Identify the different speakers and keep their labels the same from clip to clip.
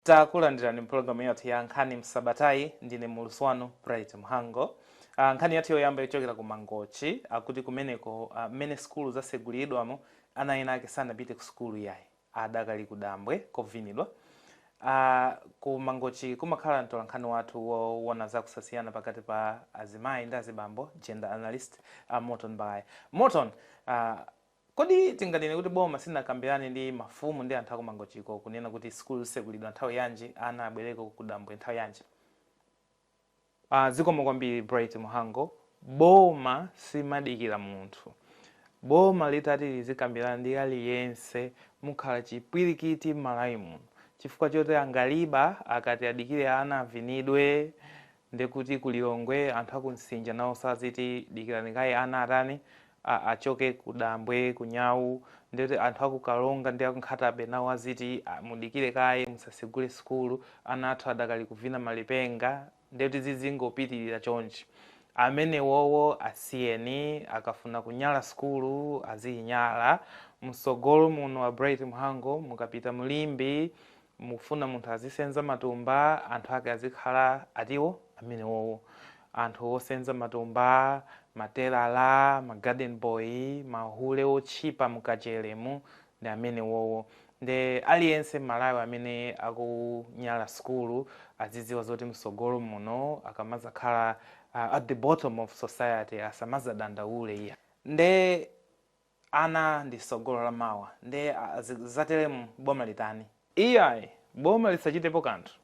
Speaker 1: Takulandirani mpulogalamu yathu ya nkhani msabatayi. Ndine mulusi wanu Bright Mhango. Nkhani yathu yoyamba ichokera ku Mangochi akuti kumeneko a mmene sukulu zasegulidwamo ana ena ake sanapite ku sukulu iyayi adakali ku dambwe kovinidwa. A ku Mangochi kumakhala mtolankhani wathu wowona za kusasiyana pakati pa azimayi ndi azibambo, gender analyst, a Morton Balaya. Morton, a. Kodi tinganene kuti boma silinakambirane ndi mafumu ndi anthu aku Mangochiko kunena kuti sukulu zitsekulidwa nthawi yanji, ana abwereko kudambwe nthawi yanji? Aaa zikomo kwambiri Bright Mhango, boma silimadikira munthu, boma litati lizikambirana ndi aliyense mukhala chipwirikiti m'Malawi muno chifukwa choti angaliba akati adikire ana avinidwe Nde kuti ku Lilongwe anthu aku Msinja nawonso aziti dikirani kaye ana atani, a achoke ku dambwe, ku nyau, nde kuti anthu aku Karonga ndi aku Nkhata Bay nawo aziti a mudikire kaye musasegule sukulu ana athu adakali kuvina malipenga, nde kuti zizingopitirira chonchi. Amenewowo asiyeni akafuna kunyala sukulu aziyinyala, msogolo muno a Bright Mhango mukapita mu Limbe mukufuna munthu azisenza matumba anthu ake azikhala atiwo amenewowo anthu osenza matumba matelara ma garden boy mahule otchipa mKachere mu ndi amenewowo nde aliyense m'Malawi amene akunyala sukulu azidziwa zoti msogolo muno akamazakhala uh, at the bottom of society asamazadandaule iyayi nde Ana ndi sogolo la mawa nde zatelemu boma litani? Iyayi boma lisachitepo kanthu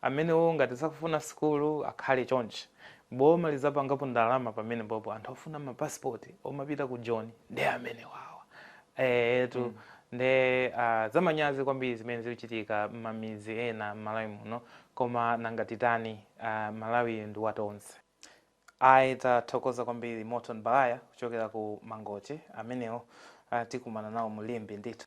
Speaker 1: amenewo ngati sakufuna sukulu akhale chonchi boma lizapangapo ndalama pamenepopo anthu ofuna ma passport omapita ku Joni nde amenewawa eetu nde zamanyazi kwambiri zimene zikuchitika mmamidzi ena mMalawi muno koma nanga titani Malawiyu ndi watonse. Ayi tathokoza kwambiri Morton Balaya kuchokera ku Mangochi amenewo uh, tikumana nawo mu Limbe ndithu.